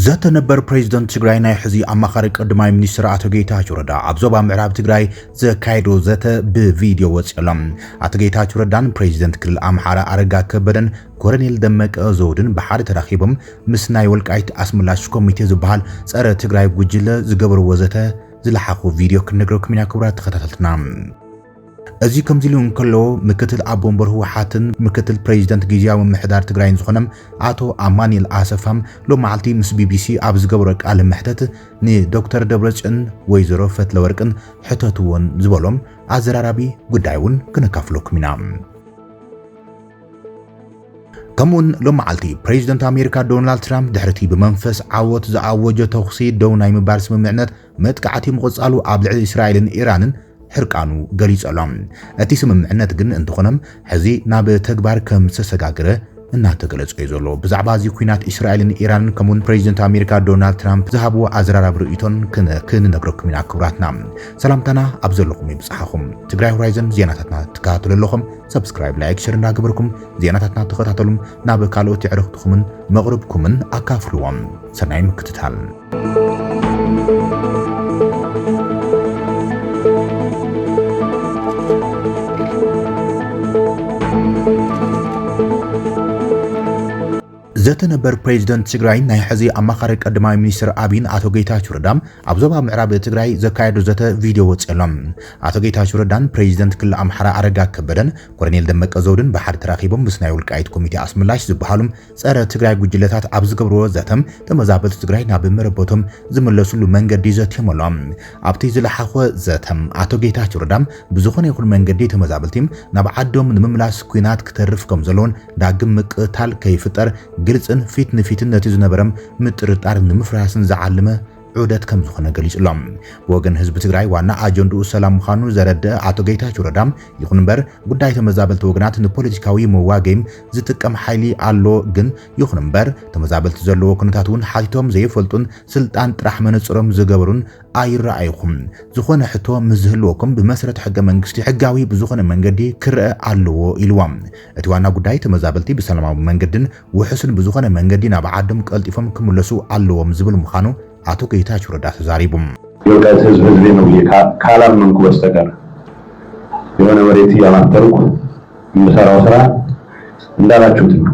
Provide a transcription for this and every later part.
ዘተ ነበር ፕሬዚደንት ትግራይ ናይ ሕዚ ኣማኻሪ ቀዳማይ ሚኒስትር ኣቶ ጌታቸው ረዳ ኣብ ዞባ ምዕራብ ትግራይ ዘካየዶ ዘተ ብቪድዮ ወፂኡ ኣሎ። ኣቶ ጌታቸው ረዳን ፕሬዚደንት ክልል ኣምሓራ ኣረጋ ከበደን ኮረኔል ደመቀ ዘውድን ብሓደ ተራኺቦም ምስ ናይ ወልቃይት ኣስመላሽ ኮሚቴ ዝበሃል ጸረ ትግራይ ጉጅለ ዝገበርዎ ዘተ ዝለሓኹ ቪድዮ ክንነግረኩም ኢና ክቡራት ተኸታተልትና። እዚ ከምዚ ኢሉ እንከሎ ምክትል ኣቦ ወንበር ህወሓትን ምክትል ፕሬዚደንት ግዝያዊ ምምሕዳር ትግራይን ዝኾነ ኣቶ ኣማኒኤል ኣሰፋም ሎማዓልቲ ምስ ቢቢሲ ኣብ ዝገበሮ ቃለ መሕተት ንዶክተር ደብረፅዮን ወይዘሮ ፈትለወርቅን ሕተትዎን ዝበሎም ኣዘራራቢ ጉዳይ እውን ክነካፍለኩም ኢና። ከምኡውን ሎመዓልቲ ፕሬዚደንት ኣሜሪካ ዶናልድ ትራምፕ ድሕሪቲ ብመንፈስ ዓወት ዝኣወጆ ተኹሲ ደው ናይ ምባል ስምምዕነት መጥቃዕቲ ምቕጻሉ ኣብ ልዕሊ እስራኤልን ኢራንን ሕርቃኑ ገሊጹ ኣሎ። እቲ ስምምዕነት ግን እንተኾነም ሕዚ ናብ ተግባር ከም ዝተሰጋገረ እናተገለጸ እዩ ዘሎ። ብዛዕባ እዚ ኩናት እስራኤልን ኢራንን ከምኡውን ፕሬዚደንት ኣሜሪካ ዶናልድ ትራምፕ ዝሃብዎ ኣዘራራቢ ርእይቶን ክንነግረኩም ኢና። ክቡራትና ሰላምታና ኣብ ዘለኹም ይብጽሓኹም። ትግራይ ሆራይዘን ዜናታትና ትከታተሉ ኣለኹም። ሰብስክራይብ ላይክ ሸር እንዳገበርኩም ዜናታትና ተኸታተሉም ናብ ካልኦት የዕርኽትኹምን መቕርብኩምን ኣካፍልዎም። ሰናይ ምክትታል ዘተ ነበር ፕሬዚደንት ትግራይን ናይ ሕዚ ኣማኻሪ ቀዳማይ ሚኒስትር ኣብይን ኣቶ ጌታቸው ረዳ ኣብ ዞባ ምዕራብ ትግራይ ዘካየዱ ዘተ ቪድዮ ወፂኡ ኣሎ። ኣቶ ጌታቸው ረዳን ፕሬዚደንት ክልል ኣምሓራ ኣረጋ ከበደን ኮሎኔል ደመቀ ዘውድን ብሓደ ተራኺቦም ምስ ናይ ውልቃይት ኮሚቴ ኣስመላሽ ዝበሃሉ ፀረ ትግራይ ጉጅለታት ኣብ ዝገብርዎ ዘተ ተመዛበልቲ ትግራይ ናብ መረበቶም ዝምለስሉ መንገዲ ዘትዮም ኣሎ። ኣብቲ ዝለሓዀ ዘተ፣ ኣቶ ጌታቸው ረዳ ብዝዀነ ይዅን መንገዲ ተመዛበልቲ ናብ ዓዶም ንምምላስ ኲናት ክተርፍ ከም ዘለዎን ዳግም ምቅትታል ከይፍጠር ግልጽን ፊት ንፊትን ነቲ ዝነበረ ምጥርጣር ንምፍራስን ዝዓለመ ዑደት ከም ዝዀነ ገሊጹ ኣሎ። ብወገን ህዝቢ ትግራይ ዋና ኣጀንድኡ ሰላም ምዃኑ ዘረድእ ኣቶ ጌታቸው ረዳ፣ ይዅን እምበር ጉዳይ ተመዛበልቲ ወገናት ንፖለቲካዊ መዋገዪም ዝጥቀም ሓይሊ ኣሎ፣ ግን ይዅን እምበር ተመዛበልቲ ዘለዎ ኵነታት እውን ሓቲቶም ዘይፈልጡን ስልጣን ጥራሕ መነጽሮም ዝገበሩን ኣይረኣይኹም። ዝኾነ ሕቶ ምስ ዝህልወኩም ብመሰረት ሕገ መንግስቲ ሕጋዊ ብዝኾነ መንገዲ ክረኣ ኣለዎ ኢልዎም። እቲ ዋና ጉዳይ ተመዛበልቲ ብሰላማዊ መንገድን ውሑስን ብዝኾነ መንገዲ ናብ ዓዶም ቀልጢፎም ክምለሱ ኣለዎም ዝብል ምዃኑ ኣቶ ጌታቸው ረዳ ተዛሪቡ። የውዳት ህዝብ ህዝቤ ነው ብዬ ካላመንኩ በስተቀር የሆነ መሬት እያማተርኩ የምሰራው ስራ እንዳላችሁት ነው።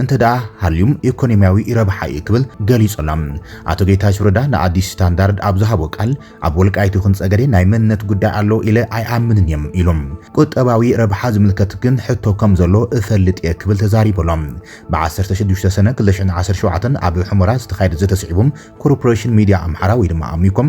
እንተደኣ ሃልዩም ኢኮኖሚያዊ ረብሓ እዩ ክብል ገሊጹ ኣሎ። ኣቶ ጌታቸው ረዳ ንኣዲስ ስታንዳርድ ኣብ ዝሃቦ ቃል ኣብ ወልቃይት ይኹን ጸገዴ ናይ መንነት ጉዳይ ኣሎ ኢለ ኣይኣምንን እየ ኢሉ። ቁጠባዊ ረብሓ ዝምልከት ግን ሕቶ ከም ዘሎ እፈልጥ እየ ክብል ተዛሪቡ ኣሎ። ብዓሰርተ ሽዱሽተ ሰነ ክልተ ሽሕን ዓሰርተ ሸውዓተን ኣብ ሑመራ ዝተኻየደ ዘተ ስዒቡ ኮርፖሬሽን ሚድያ ኣምሓራ ወይ ድማ ኣሚኮም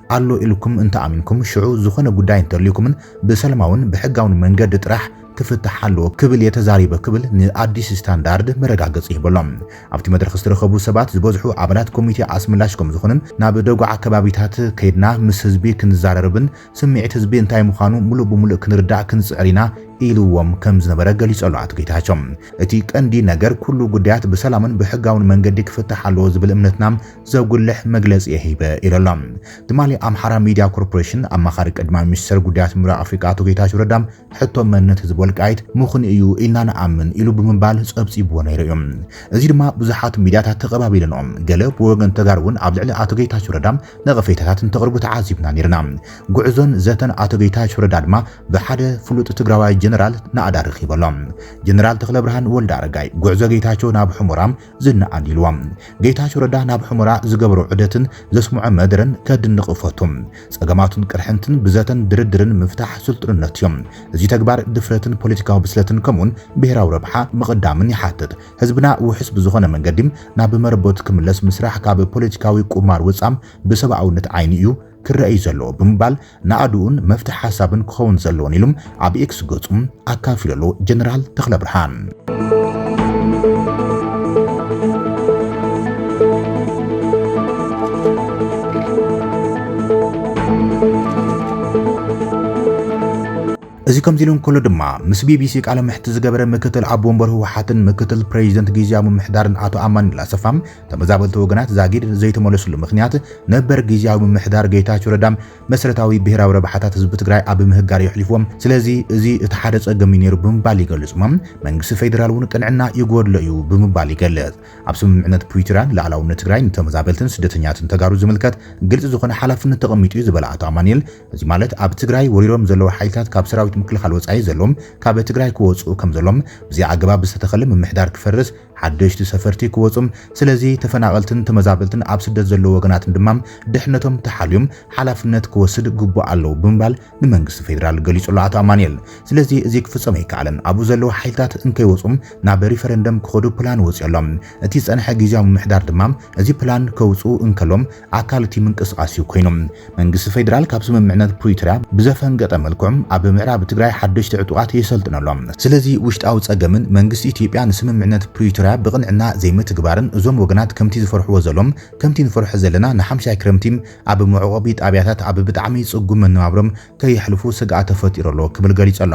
ኣሎ ኢልኩም እንተኣሚንኩም ሽዑ ዝኾነ ጉዳይ እንተልዩኩምን ብሰለማውን ብሕጋውን መንገዲ ጥራሕ ክፍታሕ ኣለዎ ክብል እየ ተዛሪበ ክብል ንኣዲስ ስታንዳርድ መረጋገጺ ሂበሎ። ኣብቲ መድረኽ ዝተረኸቡ ሰባት ዝበዝሑ ኣባላት ኮሚቴ ኣስመላሽ ከምዝኾኑን ናብ ደጉዓ ከባቢታት ከይድና ምስ ህዝቢ ክንዛረርብን ስምዒት ህዝቢ እንታይ ምዃኑ ሙሉእ ብሙሉእ ክንርዳእ ክንጽዕር ኢና ኢልዎም ከምዝነበረ ገሊጹ ኣሎ ኣቶ ጌታቸው። እቲ ቀንዲ ነገር ኩሉ ጉዳያት ብሰላምን ብሕጋውን መንገዲ ክፍታሕ ኣለዎ ዝብል እምነትና ዘጉልሕ መግለጺ እየ ሂበ ኢሉ ኣሎ። ትማሊ ኣምሓራ ሚድያ ኮርፖሬሽን ኣማኻሪ ቀዳማይ ሚኒስተር ጉዳያት ምብራቕ ኣፍሪቃ ኣቶ ጌታቸው ረዳ ሕቶ መንነት ህዝቢ ወልቃይት ምኽኑ እዩ ኢልና ንኣምን ኢሉ ብምባል ጸብጺብዎ ነይሩ እዩ። እዚ ድማ ብዙሓት ሚድያታት ተቐባቢለንኦ። ገለ ብወገን ተጋሩ እውን ኣብ ልዕሊ ኣቶ ጌታቸው ረዳ ነቐፌታታት እንተቕርቡ ተዓዚብና ነይርና። ጉዕዞን ዘተን ኣቶ ጌታቸው ረዳ ድማ ብሓደ ፍሉጥ ትግራዋይ ጀነራል ናእዳ ረኺበ ኣሎ። ጀነራል ተኽለብርሃን ወልደኣረጋይ ጉዕዞ ጌታቸው ናብ ሑሞራ ዝነኣድ ኢልዎ። ጌታቸው ረዳ ናብ ሑመራ ዝገበሮ ዑደትን ዘስምዖ መደረን ከድንቕ እፈቱ። ጸገማቱን ቅርሕንትን ብዘተን ድርድርን ምፍታሕ ስልጡንነት እዩ። እዚ ተግባር ድፍረትን ፖለቲካዊ ብስለትን ከምኡውን ብሄራዊ ረብሓ ምቕዳምን ይሓትት። ህዝብና ውሑስ ብዝኾነ መንገዲ ናብ መረበቱ ክምለስ ምስራሕ ካብ ፖለቲካዊ ቁማር ወጻ ብሰብኣውነት ዓይኒ እዩ ክረኣ እዩ ዘለዎ ብምባል ናእድኡን መፍትሒ ሓሳብን ክኸውን ዘለዎን ኢሉ ኣብ ኤክስ ገጹ ኣካፊሉ ኣሎ ጀነራል ተኽለብርሃን። እዚ ከምዚ ኢሉ እንከሎ ድማ ምስ ቢቢሲ ቃለ መሕትት ዝገበረ ምክትል ኣቦ ወንበር ህወሓትን ምክትል ፕሬዚደንት ግዝያዊ ምምሕዳርን ኣቶ ኣማኑኤል ኣሰፋ ተመዛበልቲ ወገናት ዛጊድ ዘይተመለስሉ ምኽንያት ነበር ጊዜያዊ ምምሕዳር ጌታቸው ረዳ መሰረታዊ ብሄራዊ ረብሓታት ህዝቢ ትግራይ ኣብ ምህጋር የሕሊፍዎም፣ ስለዚ እዚ እቲ ሓደ ጸገም እዩ ነይሩ ብምባል ይገልጽ እሞ መንግስቲ ፌደራል እውን ቅንዕና ይጎድሎ እዩ ብምባል ይገልጽ። ኣብ ስምምዕነት ፕሪቶርያ ልኣላውነት ትግራይ ንተመዛበልትን ስደተኛትን ተጋሩ ዝምልከት ግልፂ ዝኾነ ሓላፍነት ተቐሚጡ እዩ ዝበለ ኣቶ ኣማኒኤል እዚ ማለት ኣብ ትግራይ ወሪሮም ዘለዉ ሓይልታት ካብ ሰራዊት ምክልኻል ወፃኢ ዘለዎም ካብ ትግራይ ክወፅኡ ከምዘሎም ብዘይ ኣገባብ ዝተተኸለ ምምሕዳር ክፈርስ ሓደሽቲ ሰፈርቲ ክወጹ፣ ስለዚ ተፈናቐልትን ተመዛበልትን ኣብ ስደት ዘለዉ ወገናትን ድማ ድሕነቶም ተሓልዩም ሓላፍነት ክወስድ ግቡእ ኣለዉ ብምባል ንመንግስቲ ፌደራል ገሊጹ'ሎ ኣቶ ኣማኒኤል። ስለዚ እዚ ክፍጸም ኣይከኣለን። ኣብኡ ዘለዉ ሓይልታት እንከይወጹ ናብ ሪፈረንደም ክኸዱ ፕላን ወጺኡ'ሎ። እቲ ዝጸንሐ ግዝያዊ ምምሕዳር ድማ እዚ ፕላን ከውጽኡ እንከሎም ኣካል እቲ ምንቅስቓስ እዩ ኮይኑ። መንግስቲ ፌደራል ካብ ስምምዕነት ፕሪቶርያ ብዘፈንገጠ መልክዑ ኣብ ምዕራብ ትግራይ ሓደሽቲ ዕጡቓት የሰልጥን ኣሎ። ስለዚ ውሽጣዊ ጸገምን መንግስቲ ኢትዮጵያ ንስምምዕነት ፕሪቶርያ ብቕንዕና ዘይምትግባርን እዞም ወገናት ከምቲ ዝፈርሕዎ ዘሎም ከምቲ ንፈርሖ ዘለና ንሓምሻይ ክረምቲ ኣብ መዕቖቢ ጣብያታት ኣብ ብጣዕሚ ጽጉም መነባብሮም ከየሕልፉ ስግኣት ተፈጢሩ ኣሎ ክብል ገሊጹ ኣሎ።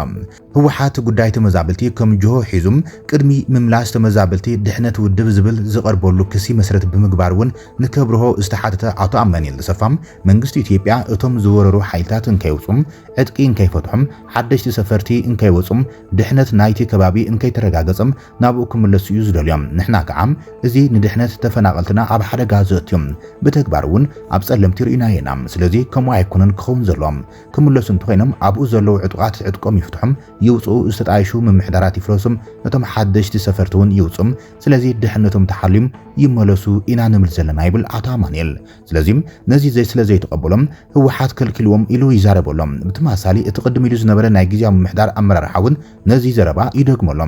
ህወሓት ጉዳይ ተመዛበልቲ ከም ጅሆ ሒዙ ቅድሚ ምምላስ ተመዛበልቲ ድሕነት ውድብ ዝብል ዝቐርበሉ ክሲ መሰረት ብምግባር እውን ንከብርሆ ዝተሓተተ ኣቶ ኣማኒኤል ተሰፋ መንግስቲ ኢትዮጵያ እቶም ዝወረሩ ሓይልታት እንከይውፁ ዕጥቂ እንከይፈትሑ ሓደሽቲ ሰፈርቲ እንከይወፁ ድሕነት ናይቲ ከባቢ እንከይተረጋገፀ ናብኡ ክምለሱ እዩ ዝደልዮ ንሕና ከዓ እዚ ንድሕነት ተፈናቐልትና ኣብ ሓደጋ ዘእትዩ ብተግባር እውን ኣብ ፀለምቲ ርኢናዮ ኢና ስለዚ ከምኡ ኣይኮነን ክኸውን ዘሎ ክምለሱ እንተኾይኖም ኣብኡ ዘለዉ ዕጡቓት ዕጥቆም ይፍትሑም ይውጽኡ፣ ዝተጣየሹ ምምሕዳራት ይፍረሱም፣ እቶም ሓደሽቲ ሰፈርቲ እውን ይውጹም፣ ስለዚ ድሕነቶም ተሓልዩም ይመለሱ ኢና ንብል ዘለና ይብል ኣቶ ኣማኑኤል። ስለዚ ነዚ ስለ ዘይተቐበሎም ህወሓት ከልኪልዎም ኢሉ ይዛረብ ኣሎ። ብተመሳሳሊ እቲ ቅድም ኢሉ ዝነበረ ናይ ግዝያዊ ምምሕዳር ኣመራርሓ እውን ነዚ ዘረባ ይደግሞ ኣሎ።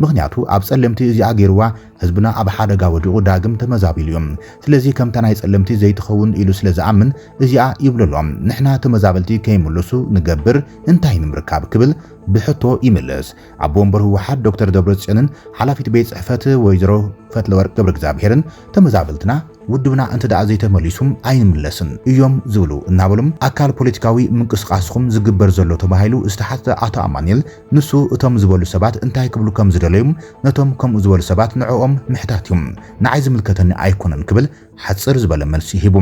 ምኽንያቱ ኣብ ጸለምቲ እዚኣ ገይርዋ ህዝብና ኣብ ሓደጋ ወዲቑ ዳግም ተመዛቢሉ እዩ። ስለዚ ከምታ ናይ ጸለምቲ ዘይትኸውን ኢሉ ስለ ዝኣምን እዚኣ ይብሉ ኣሎ። ንሕና ተመዛበልቲ ከይምልሱ ንገብር እንታይ ንምርካብ ክብል ብሕቶ ይምልስ። ኣቦ ወንበር ህወሓት ዶክተር ደብረጽዮንን ሓላፊት ቤት ጽሕፈት ወይዘሮ ፈትለወርቅ ገብረእግዚኣብሄርን ተመዛበልትና ውድብና እንተደኣ ዘይተመሊሱ ኣይንምለስን እዮም ዝብሉ እናበሉ ኣካል ፖለቲካዊ ምንቅስቓስኹም ዝግበር ዘሎ ተባሂሉ ዝተሓትተ ኣቶ ኣማኒኤል ንሱ እቶም ዝበሉ ሰባት እንታይ ክብሉ ከም ዝደለዩ ነቶም ከምኡ ዝበሉ ሰባት ንዕኦም ምሕታት እዩ፣ ንዓይ ዝምልከተኒ ኣይኮነን ክብል ሓጽር ዝበለ መልሲ ሂቡ።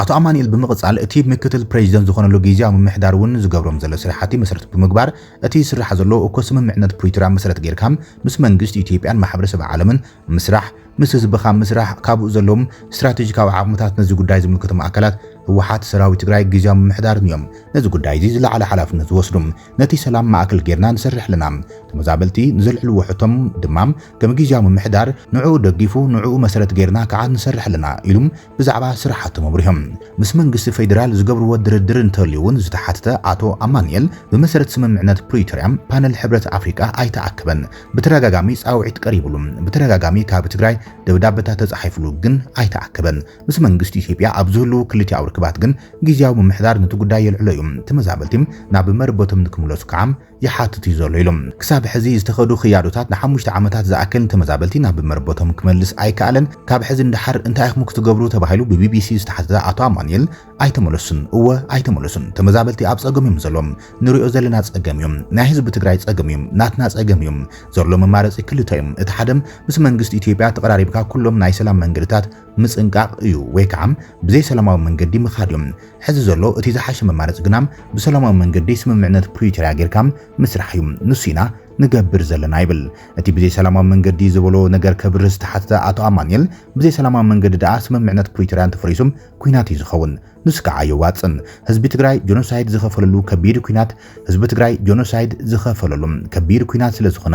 ኣቶ ኣማኒኤል ብምቕጻል እቲ ምክትል ፕረዚደንት ዝኾነሉ ግዝያዊ ምምሕዳር እውን ዝገብሮም ዘሎ ስራሕቲ መሰረት ብምግባር እቲ ዝስራሕ ዘሎ እኮ ስምምዕነት ፕሪቶርያ መሰረት ገይርካ ምስ መንግስቲ ኢትዮጵያን ማሕበረሰብ ዓለምን ምስራሕ፣ ምስ ህዝብኻ ምስራሕ፣ ካብኡ ዘለዎም ስትራቴጂካዊ ዓቕምታት ነዚ ጉዳይ ዝምልከቶም ኣካላት፣ ህወሓት፣ ሰራዊት ትግራይ፣ ግዝያዊ ምምሕዳርን እዮም ነዚ ጉዳይ እዚ ዝለዓለ ሓላፍነት ዝወስዱ። ነቲ ሰላም ማእከል ጌርና ንሰርሕ ኣለና። ተመዛበልቲ ንዘልዕልዎ ሕቶ ድማ ከም ግዝያዊ ምምሕዳር ንዕኡ ደጊፉ ንዕኡ መሰረት ጌርና ክዓ ንሰርሕ ኣለና ኢሉ ብዛዕባ ስራሓቶም ኣብሪሆም። ምስ መንግስቲ ፌዴራል ዝገብርዎ ድርድር እንተልዩ እውን ዝተሓተተ ኣቶ ኣማኑኤል፣ ብመሰረት ስምምዕነት ፕሪቶርያ ፓነል ሕብረት ኣፍሪቃ ኣይተኣከበን፣ ብተደጋጋሚ ፃውዒት ቀሪብሉ፣ ብተደጋጋሚ ካብ ትግራይ ደብዳበታት ተፃሒፍሉ ግን ኣይተኣከበን፣ ምስ መንግስቲ ኢትዮጵያ ኣብ ዝህልዉ ክልቲኣዊ ርክባት ግን ግዝያዊ ምምሕዳር ንቲ ጉዳይ የልዕሎ እዩ፣ ተመዛበልቲ ናብ መረበቶም ንክምለሱ ከዓ ይሓትት እዩ ዘሎ ኢሉ። ክሳብ ሕዚ ዝተኸዱ ክያዶታት ንሓሙሽተ ዓመታት ዝኣክል ንተመዛበልቲ ናብ መረበቶም ክመልስ ኣይከኣለን። ካብ ሕዚ ንደሓር እንታይ ኢኹም ክትገብሩ ተባሂሉ ብቢቢሲ ዝተሓተተ ኣቶ ኣማኑኤል፣ ኣይተመለሱን፣ እወ ኣይተመለሱን፣ ተመዛበልቲ ኣብ ፀገም እዮም ዘሎው፣ ንሪኦ ዘለና ፀገም እዩ፣ ናይ ህዝቢ ትግራይ ፀገም እዩ፣ ናትና ፀገም እዩ፣ ዘሎ መማረፂ ክልተ እዩ፣ እቲ ሓደ ምስ መንግስቲ ኢትዮጵያ ተቐራሪብካ ኩሎም ናይ ሰላም መንገድታት ምጽንቃቕ እዩ ወይ ከዓ ብዘይ ሰላማዊ መንገዲ ምኻድ እዩ። ሕዚ ዘሎ እቲ ዝሓሸ መማረፂ ግና ብሰላማዊ መንገዲ ስምምዕነት ፕሪቶርያ ጌርካ ምስራሕ እዩ። ንሱ ኢና ንገብር ዘለና ይብል እቲ ብዘይ ሰላማዊ መንገዲ ዝበሎ ነገር ከብርህ ዝተሓተተ ኣቶ ኣማኑኤል። ብዘይ ሰላማዊ መንገዲ ደኣ ስምምዕነት ፕሪቶርያ እንተፈሪሱ ኲናት እዩ ዝኸውን። ንሱ ከዓ ኣየዋፅእን። ህዝቢ ትግራይ ጆኖሳይድ ዝኸፈለሉ ከቢድ ኲናት ህዝቢ ትግራይ ጆኖሳይድ ዝኸፈለሉ ከቢድ ኲናት ስለዝኾነ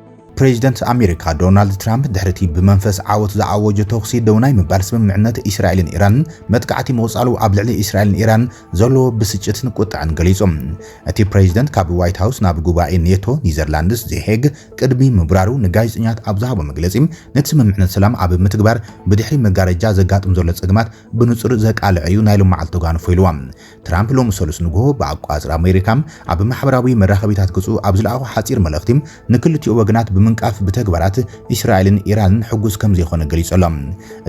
ፕሬዚደንት ኣሜሪካ ዶናልድ ትራምፕ ድሕሪቲ ብመንፈስ ዓወት ዝኣወጆ ተኹሲ ደው ናይ ምባል ስምምዕነት እስራኤልን ኢራንን መጥቃዕቲ ምቕጻሉ ኣብ ልዕሊ እስራኤልን ኢራን ዘለዎ ብስጭትን ቁጥዐን ገሊጹ። እቲ ፕሬዚደንት ካብ ዋይት ሃውስ ናብ ጉባኤ ኔቶ ኒዘርላንድስ ዘሄግ ቅድሚ ምብራሩ ንጋዜጠኛት ኣብ ዝሃቦ መግለጺ ነቲ ስምምዕነት ሰላም ኣብ ምትግባር ብድሕሪ መጋረጃ ዘጋጥም ዘሎ ጸገማት ብንጹር ዘቃልዕ እዩ ናይ ሎምዓልቲ ተጓንፎ ኢልዋ። ትራምፕ ሎሚ ሰሉስ ንግሆ ብኣቆጻጽራ ኣሜሪካ ኣብ ማሕበራዊ መራኸቢታት ገጹ ኣብ ዝለኣኾ ሓጺር መልእኽቲ ንክልቲኡ ወገናት ብምንቃፍ ብተግባራት እስራኤልን ኢራንን ሕጉስ ከምዘይኮነ ገሊጹ ኣሎ።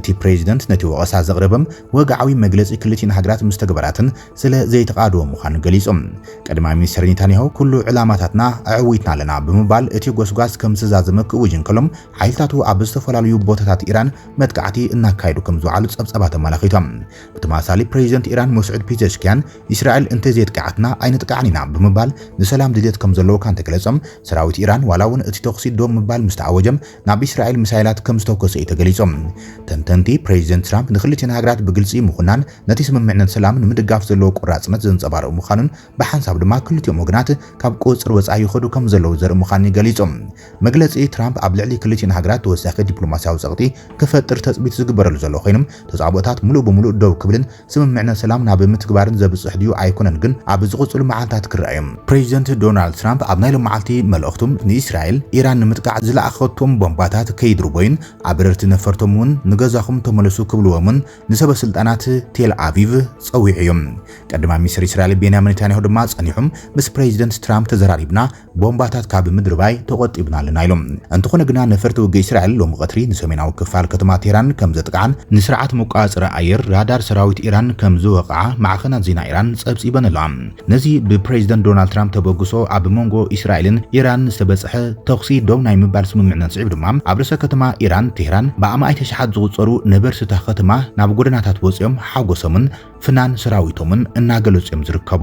እቲ ፕሬዚደንት ነቲ ወቐሳ ዘቕረበ ወግዓዊ መግለጺ ክልቲኤን ሃገራት ምስ ተግባራተን ስለ ዘይተቓደወ ምዃኑ ገሊጹ። ቀዳማይ ሚኒስተር ኔታንያሁ ኩሉ ዕላማታትና ኣዐዊትና ኣለና ብምባል እቲ ጎስጓስ ከምዝተዛዘመ ክእውጅ እንከሎ ሓይልታቱ ኣብ ዝተፈላለዩ ቦታታት ኢራን መጥቃዕቲ እናካየዱ ከምዝውዓሉ ጸብጻባት ኣመላኺቶም። ብተመሳሳሊ ፕረዚደንት ኢራን መስዑድ ፒዘሽክያን እስራኤል እንተዘየጥቅዓትና ኣይነጥቅዓን ኢና ብምባል ንሰላም ድልየት ከምዘለዎካ እንተገለጾም፣ ሰራዊት ኢራን ዋላ'ውን እቲ ተኹሲ ደው ምባል ምስተኣወጀ ናብ እስራኤል ሚሳይላት ከምዝተኮሰ እዩ ተገሊጹ። ተንተንቲ፣ ፕረዚደንት ትራምፕ ንክልቲኤን ሃገራት ብግልጺ ምኹናን ነቲ ስምምዕነት ሰላም ንምድጋፍ ዘለዎ ቆራጽነት ዘንጸባርቕ ምዃኑን ብሓንሳብ ድማ ክልቲኦም ወገናት ካብ ቁጽጽር ወጻኢ ይኸዱ ከምዘለዉ ዘርኢ ምዃኑን እዩ ገሊጹ። መግለጺ ትራምፕ ኣብ ልዕሊ ክልቲኤን ሃገራት ተወሳኺ ዲፕሎማስያዊ ጸቕጢ ክፈጥር ተጽቢት ዝግበረሉ ዘሎ ኮይኑ፣ ተጻብኦታት ምሉእ ብምሉእ ደው ክብልን ስምምዕነት ሰላም ናብ ምትግባርን ዘብጽሕ ድዩ ኣይኮነን ግን ኣብ ዝቕጽሉ መዓልታት ክርኣ እዩ። ፕሬዚደንት ዶናልድ ትራምፕ ኣብ ናይ ሎማዓልቲ መልእኽቱ፣ ንእስራኤል፣ ኢራን ንምጥቃዕ ዝለኣኸቶም ቦምባታት ከይድርቦዩን ኣበረርቲ ነፈርቶም እውን ንገዛኹም ተመለሱ ክብልዎም እውን ንሰበ ስልጣናት ቴል ኣቪቭ ጸዊዑ እዩ። ቀዳማይ ሚኒስተር እስራኤል ቤንያሚን ኔታንያሁ ድማ ጸኒሑ ምስ ፕሬዚደንት ትራምፕ ተዘራሪብና፣ ቦምባታት ካብ ምድርባይ ተቖጢብና ኣለና ኢሎም። እንተኾነ ግና ነፈርቲ ውግእ እስራኤል ሎሚ ቐትሪ ንሰሜናዊ ክፋል ከተማ ቴህራን ከም ዘጥቅዓን ንስርዓት መቆጻጸሪ ኣየር ራዳር ሰራዊት ኢራን ከም ዝወቕዓ ማዕኸናት ዜና ኢራን ጸብጺበን ኣለዋ። ነዚ ብፕረዚደንት ዶናልድ ትራምፕ ተበግሶ ኣብ መንጎ እስራኤልን ኢራንን ዝተበጽሐ ተኹሲ ደው ናይ ምባል ስምምዕነት ስዒቡ ድማ ኣብ ርእሰ ከተማ ኢራን ቴህራን ብኣማኢት ኣሽሓት ዝቑጸሩ ነበርቲ እታ ከተማ ናብ ጎደናታት ወጺኦም ሓጎሶምን ፍናን ሰራዊቶምን እናገለጹ እዮም ዝርከቡ።